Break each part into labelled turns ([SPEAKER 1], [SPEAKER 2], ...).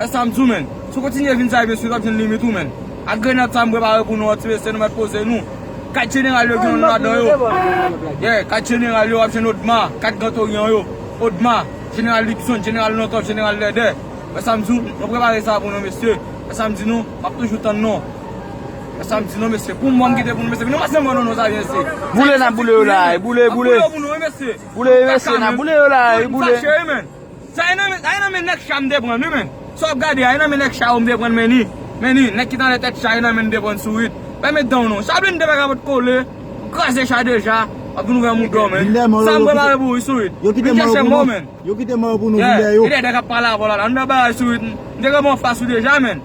[SPEAKER 1] Esa m di w menn. Si w kontinye vin sa e mesye w ap jwenn limit ou menn. Ak grenad sa m prepare pou nou an ti mesye nou mèt poze nou. Kat jeneral yo gen yon non ladan yo. Yeah, kat jeneral yo w ap jwenn Odma, kat gran toryan yo, Odma, jeneral Lipson, jeneral Longcov, jeneral Lèdè. Wè sa m di w, mwen prepare sa pou nou mesye. Wè sa m di nou, m ap toujou tann nou. Wè sa m di nou mesye, pou mòn ki te pou nou mesye. Vin nou pase mòn nou non sa vyen se. Boule n ap boule yo la a, boule, boule. N ap boule yo pou
[SPEAKER 2] nou wi mesye. Boule yo mesye, n ap boule yo la a wi, boule. Sa e
[SPEAKER 1] nan men, sa e nan men nèg cha m te prann wi men, sa wap gade a e nan men nèg cha yo m te prann men ni, men ni, nèg ki t anlè tèt cha e nan men n te prann sourit, fèmen dan w non, Chaplin te fèk avèt kole, ou kraze cha deja, wap vin ouvè mouda w men, sa m prepare pou ou wi sourit, vin chèche m non men,
[SPEAKER 3] yeah, gen de nèg ap pale avè w la,
[SPEAKER 1] ann
[SPEAKER 3] fè
[SPEAKER 1] bagay sourit, m te gentan pran w fas ou deja men.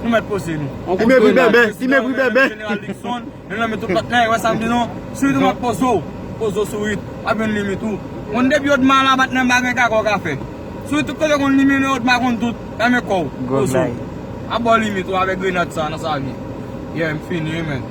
[SPEAKER 1] Nou mèt poze nou. On kout grenad. Ti megri bèbè, ti
[SPEAKER 3] megri bèbè. Jeneral Dixon,
[SPEAKER 1] nou nan meto plat la, e wè sa m di nou, sourit ou m ap poze w, poze w sourit, ap jwenn limit ou. Konn depi odma ala bat nan bagay kaka w ka fè. Sourit tout kote konn li mennen odma konn tout, fèmen kò w, poze w. Ap ba w limit ou avèk grenad sa nan sa vye. Yeah, m fini wi menn.